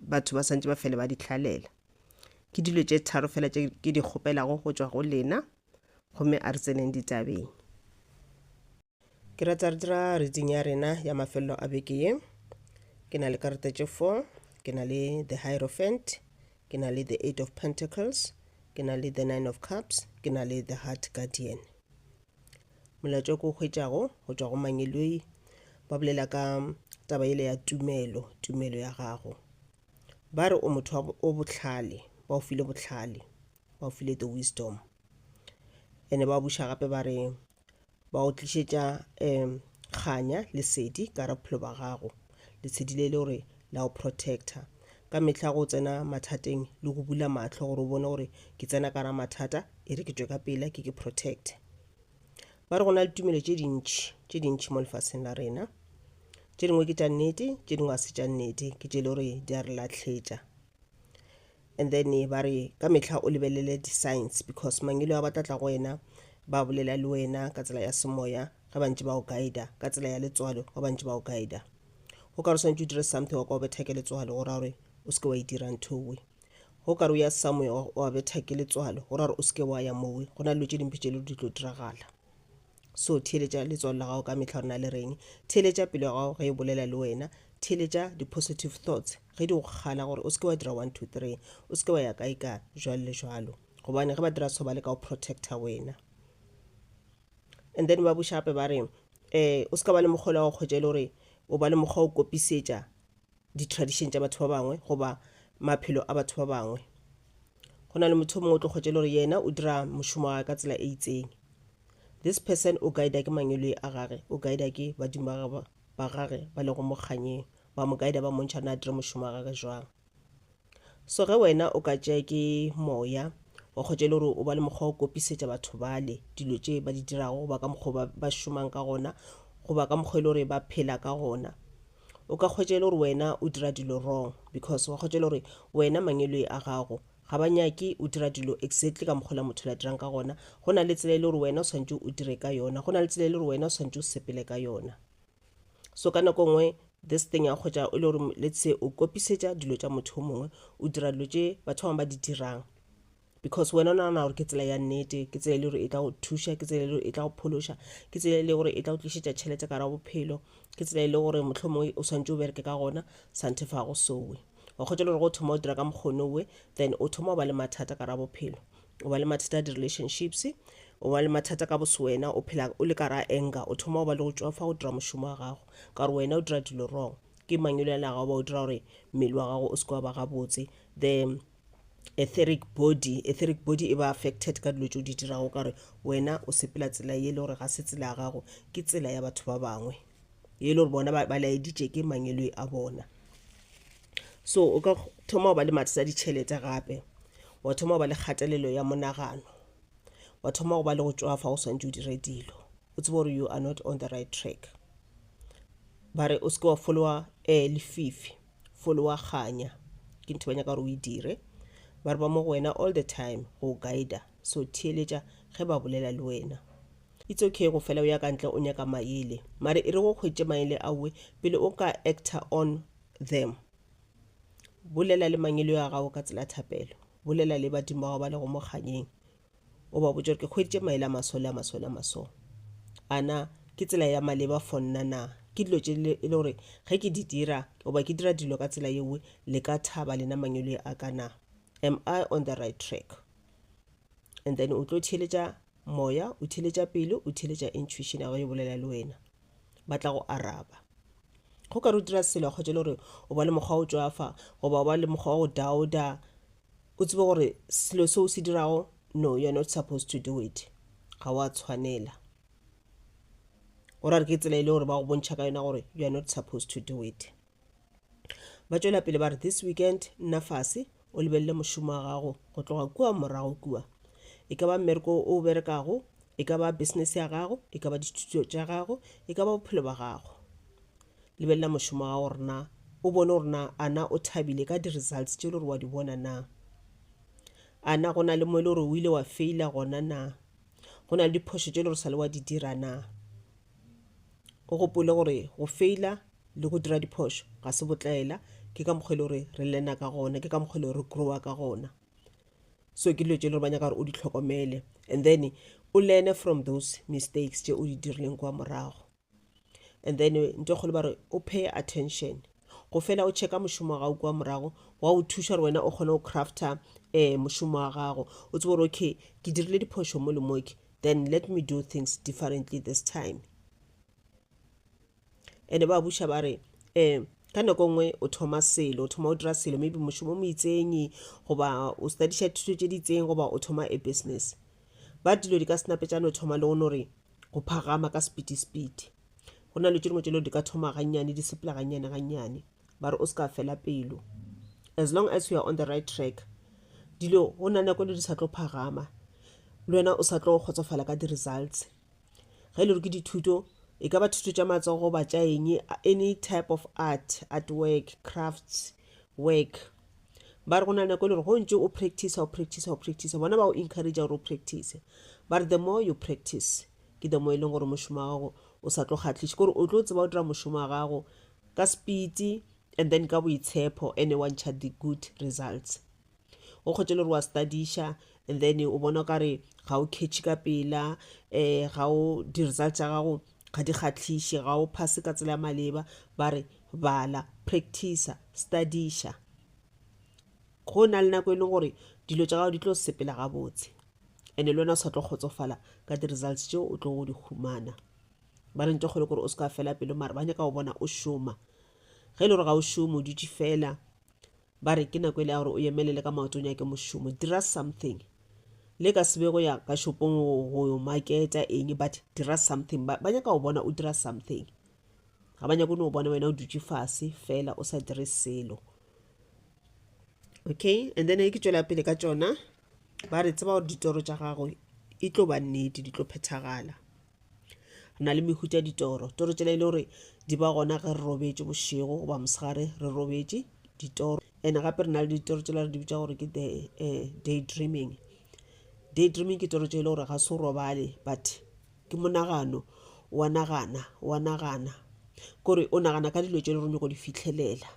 batho ba santse ba fele ba di hlalela ke dilo tše tharo fela tše ke di kgopelago go tšwa go lena gomme a re tseneng ditabeng ke rata re dira reading ya rena ya mafelelo a beke ye ke na le karata tše four ke na le the hierophant ke na le the eight of pentacles ke na le the nine of cups ke na le the heart guardian Molato o ke o hwetšago go tšwa go Mangeloi ba bolela ka taba ele ya tumelo, tumelo ya gago. Ba re o motho wa bo- o bohlale, ba o file bohlale, ba o file the wisdom. Ene ba buša gape ba re ba o tlišetša um kganya, lesedi ka gare ga bophelo ba gago. Letshedi le le gore la go protecta ka mehla go tsena mathateng le go bula mahlo gore o bone gore ke tsena ka ra mathata e re ke tšwe ka pela ke ke protecte. Ba re go na le tumelo tše dintši tše dintši mo lefaseng la rena. Tše dingwe ke tša nnete, tše dingwe ga se tša nnete, ke tše le gore di a re lahletša. and then ba re ka mehla o lebelele di-signs because mangelo a ba tla tla go wena ba bolela le wena ka tsela ya semoya ge ba ntse ba o guida ka tsela ya letswalo ge ba ntse ba o guida go ka re swantse o dire something wa ka o betha ke letswalo go ra gore o seke wa e dira nthowe go ka re o ya somewhere wa betha ke letswalo go ra gore o seke wa ya mowe go na le dilo tše dimpe tše le di tlo diragala So theeletša letswalo la gago ka mehla gore na le reng. Theeletša pelo ya gago ge e bolela le wena. Theeletša di-positive thoughts ge di go kgala gore o se ke wa dira one two three, o se ke wa ya kae ka jwalo le jwalo. Gobane ge ba dira so ba leka go protecta wena. And then ba buša gape ba re um o se ka ba le mokgwa o le wa go kgwetša e le gore o ba le mokgwa o kopisetša di-tradition tša batho ba bangwe goba maphelo a batho ba bangwe go na le motho o mongwe o tlo kgwetša le gore yena o dira mošomo wa ka tsela e itseng this person o guida ke mangwelwe a gage o guida ke badimo ba gagwe ba gage ba lego mokganyeng ba mo guida ba montšha na dire mošomo wa gage jwang So ge wena o ka tšea ke Moya, wa kgotša e le gore o ba le mokgwa o kopisetša batho bale dilo tše ba di dirago goba ka mokgwa ba, ba šomang ka gona goba ka mokgwa e le gore ba phela ka gona. O ka kgwetša e le gore wena o dira dilo wrong because wa kgwetša e le gore wena mangeloi a gago ga ba nyake o dira dilo exactly ka mokgwa o la motho la dirang ka gona. Go na le tsela e le gore wena o swanetše o dire ka yona, go na le tsela e le gore wena o swanetše o sepele ka yona. so ka nako nngwe this thing ya kgotša o le gore let's say o kopisetša dilo tša motho o mongwe o dira dilo tše batho bangwe ba di dirang because wena o nagana gore ke tsela ya nnete ke tsela e le gore e tla go thuša ke tsela e le gore e tla go phološa ke tsela e le gore e tla go tlišetša tšhelete ka ra bophelo ke tsela e le gore mohlho mongwe o swantse o bereke ka gona santhe fa go sowe wa kgotsa le gore go thoma o dira ka mokgonowe then o thoma o ba le mathata ka ra bophelo o ba le mathata a di-relationships o ba le mathata ka bose wena o phela o le ka ra anger o thoma go ba le go tšwafa go dira mošomo wa gago ka gore wena o dira dilo wrong ke mangwelo yana gago ba o dira gore mmele wa gago o se wa ba gabotse the etheric body etheric body e ba affected ka dilo tse o di dirago ka gore wena o sepela tsela ye le gore ga se tsela ya gago ke tsela ya batho ba bangwe e le gore bona ba laeditše ke mangeloi a bona so o ka thoma go ba le mathata a ditšhelete gape wa thoma go ba le kgatelelo ya monagano wa thoma go ba le go tšwa fa o swantse o dire dilo o tsebe gore you are not on the right track ba re o seke wa folowa eh, lefifi folowa kganya ke ntho ba nyaka gore o e dire ba re ba mo go wena all the time go guida so theeletša ge ba bolela le wena It's okay go fela o ya ka ntle o nyaka maele. Mare e re o hwetše maele a we pele o ka actor on them. Bolela le mangelo a gago ka tsela ya thapelo. Bolela le badimo ba gago ba lego mo kganyeng. O ba botše gore ke hweditše maele a maso le a maso le a maso. A na ke tsela ya maleba for nna na? Ke dilo tše e le gore ge ke di dira goba ke dira dilo ka tsela yewe le ka thaba lena mangelo a ka na? Am I on the right track? And then o tlo theeletša Moya o theeletša pelo, o theeletša intuition ya gagwe yo bolela le wena. Ba tla go araba. Go ka re o dira selo a kgwetša le gore o ba le mokgwa o tšwafa goba o ba le mokgwa wa go dauda, o tsebe gore selo se o se dirago, no, you're not supposed to do it. Ga wa tshwanela. Go ra re ke tsela e le gore ba go bontšha ka yona gore you're not supposed to do it. ba tšwela pele ba re this weekend nna fase o lebelele mošomo wa gago go tloga kua morago kua e ka ba mmereko o berekago e ka ba business ya gago e ka ba dithuto tša gago e ka ba bophelo ba gago lebelela mošomo wa gago gore na o bone gore na a na o thabile ka di-results tše e le gore wa di bona na a na go na le mo e le gore o ile wa faila gona na go na le diphošo tše e le gore sa le wa di dira na O gopole gore go feila le go dira diphošo ga se botlaela, ke ka mokgwa e le gore re lena ka gona, ke ka mokgwa e le gore re growa ka gona. So ke dilo tše e le gore ba nyaka gore o di tlhokomele and then o learne from those mistakes tše o di dirileng kwa morago. And then nto e kgolo ba re o pay attention, go fela o checka mošomo wa gago kwa morago wa o thuša gore wena o kgone go crafter um mošomo wa gago, o tsebe gore okay ke dirile diphošo mo le mo ke, then let me do things differently this time ene ba buša ba re um ka nako nngwe o thoma selo o thoma o dira selo maybe mošomo mo itsenyi goba o studiša thuto tše di itseng goba o thoma a business ba dilo di ka senapetšane o thoma le go no re go phagama ka sepiti sepiti go na le tše dingwe tše leo di ka thoma gannyane di sepela gannyane gannyane ba re o se ka fela pelo as long as you are on the right track dilo go na nako le di sa tlo phagama le wena o sa tlo kgotsofala ka di-results ge e le gore ke dithuto e ka ba thuto tša matsogo goba tša eng any type of art art work crafts work ba re go na nako e le gore go ntse o practice o practice o practice bona ba o encourage gore o practice ba re the more you practice ke the mo e leng gore mošomo wa gago o sa tlo kgatlhiše kore o tlo tseba o dira mošomo wa gago ka spiti and then ka boitshepho ene wa ntšha the good results o kgotse le gore wa studiša and then o bona kare ga o catch ka pela um ga o di-result tša gago ga di kgatlhiše ga o phase ka tsela ya maleba ba re bala practicer studiša go na le nako e leng gore dilo tša gago di tlo sepela gabotse ene le wena o sa tlo kgotsofala ka di-results tšeo o tlogo di humana ba re nte kgolo kore o se ka fela pelo mare ba nyaka go bona o šoma ge e le gore ga o šome o dutše fela ba re ke nako e le ya gore o emelele ka maoto o nyake mošomo dira something le ka sebe go ya ka shopong go yo maketa eng but dira something ba nyaka go bona o dira something ga ba nyako no bona wena o dutše fase fela o sa dire selo okay and then ke tšwela pele ka tšona ba re tseba gore ditoro tša gago e tlo ba nnete di tlo phethagala re na le mehuta ditoro toro tsela e le gore di ba gona ge re robetše bošego goba mosegare re robetše ditoro and gape re na le ditoro tsela re di bitsa gore ke the eh, day dreaming day dreaming ke toro tše e le gore ga se o robale but ke monagano wa nagana wa nagana kore o nagana ka dilo tše le gore nyoko di fitlhelela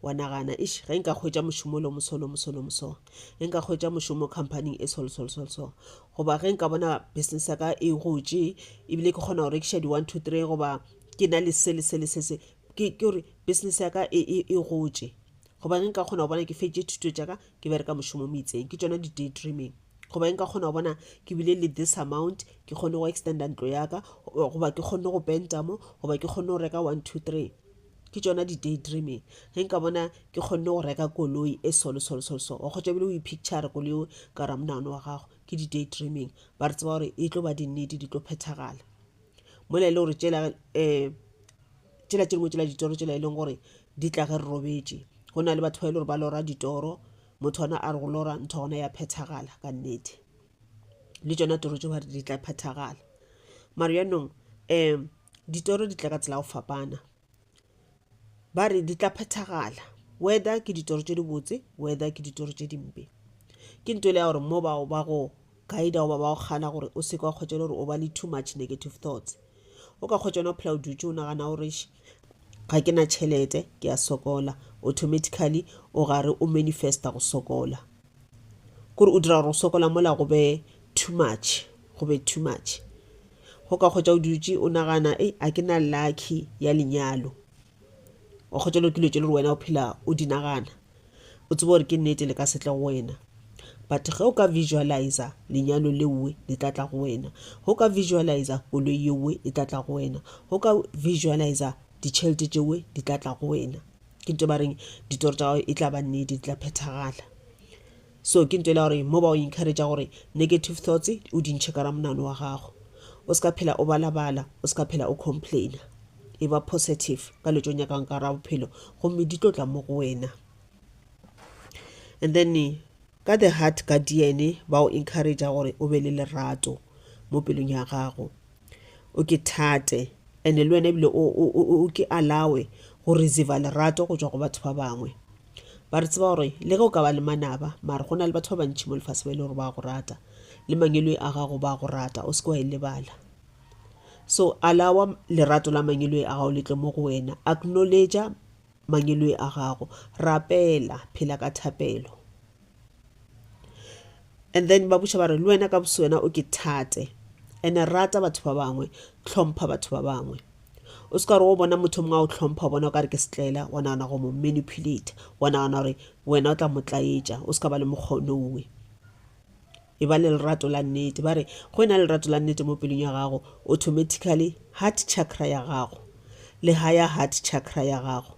wa nagana ish ge nka hwetša mošomo lo moso lo moso lo moso ge nka hwetša mošomo companyng e sol sol sol so goba ge nka bona business ya ka e gotše ebile ke kgona go rekiša di one two three goba ke na le se le se le se se ke gore business ya ka e, e, e gotše goba ge nka kgona go bona ke fetše thuto tša ka ke bereka mošomo mo itseng ke tšona di-day dreaming goba nka kgona go bona ke bile le this amount ke kgone go extenda ntlo yaka goba ke kgone go penta mo goba ke kgone go reka one two three ke tšona di day dreaming ge nka bona ke kgonne go reka koloi e solo solo solo so wa kgotsa bile o ipicture koloi o ka ra monagano wa gago ke di day dreaming ba re tseba gore e tlo ba dinnete di tlo phethagala mola e le gore tšela um eh, tšela tše dingwe tšela ditoro tšela e leng gore di tla ge re robetše go na le batho ba e le gore ba lora ditoro motho ona a re go lora ntho gona ya phethagala ka nnete le tšona toro tšeo ba re di tla phethagala mare yanong um ditoro di tla ka tsela ya go fapana ba re di tla phethagala whether ke ditoro tše dibotse whether ke ditoro tše dimpe ke nto le ya gore mo bao ba go guide goba ba go kgana gore o seke wa kgwetsa gore o ba le too much negative thoughts o ka kgwetsa ona o phela o dutse o nagana gore ga ke na tšhelete ke a sokola automatically o gare o manifesta go sokola kore o dira gore o sokola mola go be too much go be too much Go ka kgotša o dutše o nagana, Ei, a ke na lucky ya lenyalo. O kgotšelwa ke dilo tše le gore wena o phela o di nagana. O tseba gore ke nnete le ka setle go wena. But ge o ka visualizer lenyalo leowe le tla tla go wena. Ge o ka visualizer koloi yeowe e tla tla go wena. Ge o ka visualizer ditšhelete tšeowe di tla tla go wena. Ke ntho e ba reng ditoro tša gago e tla ba nnete, di tla phethagala. So ke ntwa e le ya gore mo ba o encouragea gore negative thoughts o di ntšhe ka ra monano wa gago. O se ka phela o balabala, o se ka phela o complaina. E ba positive ka dilo tse o nyakang ka ra bophelo gomme di tlo tla mo go wena. And then ka the heart guardian ba o encouragea gore o be le lerato mo pelong ya gago. o ke thate ene le wena ebile o ke alawe go receiva lerato go tšwa go batho ba bangwe ba re tseba gore le ge o ka ba le manaba mare go na le batho ba bantšhi mo lefase ba e le gore ba go rata le mangeloi a gago ba go rata o se ke wa e lebala so alawa lerato la mangeloi a gago le tle mo go wena acknowledge Mangeloi a gago. Rapela. Phela ka thapelo. And then ba buša ba re, le wena ka boswena o ke thate. Ene rata batho ba bangwe. Tlhompha batho ba bangwe. O se ka gore o bona motho mongwe a o tlhompha o bona o ka re ke setlela wa nagana go mo manipulata wa nagana gore wena o tla mo tlaetša o se ka ba le mokgonowe e ba le lerato la nnete. Ba re, Go ena le lerato la nnete mo pelong ya gago, automatically heart chakra ya gago le higher heart chakra ya gago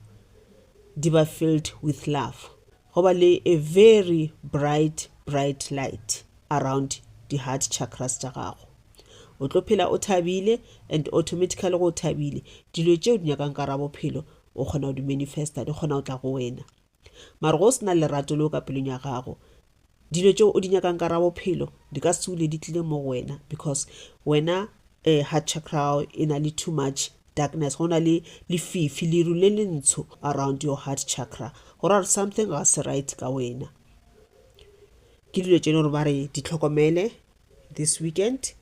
di ba filled with love. Go ba le a very bright, bright light around di heart chakras tša gago. O tlo phela o thabile and automatically go o thabile, dilo tšeo di nyakang ka gare ga bophelo o kgona go di manifesta, di kgona go tla go wena. Mara ge o se na lerato leo ka pelong ya gago, dilo tšeo o di nyakang ka ra bophelo di ka se ule di tlile mo go wena because wena um heart chakra ya gago e na le too much darkness, go na le lefifi, leru le le ntsho around your heart chakra, go ra gore something ga se right ka wena. Ke dilo tše e le gore ba re di tlhokomele this weekend.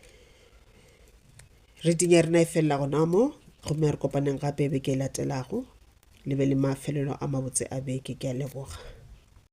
Reading ya rena e felela gona mo, gomme re kopaneng gape beke e latelago. Le be le mafelelo a mabotse a beke. Ke a leboga.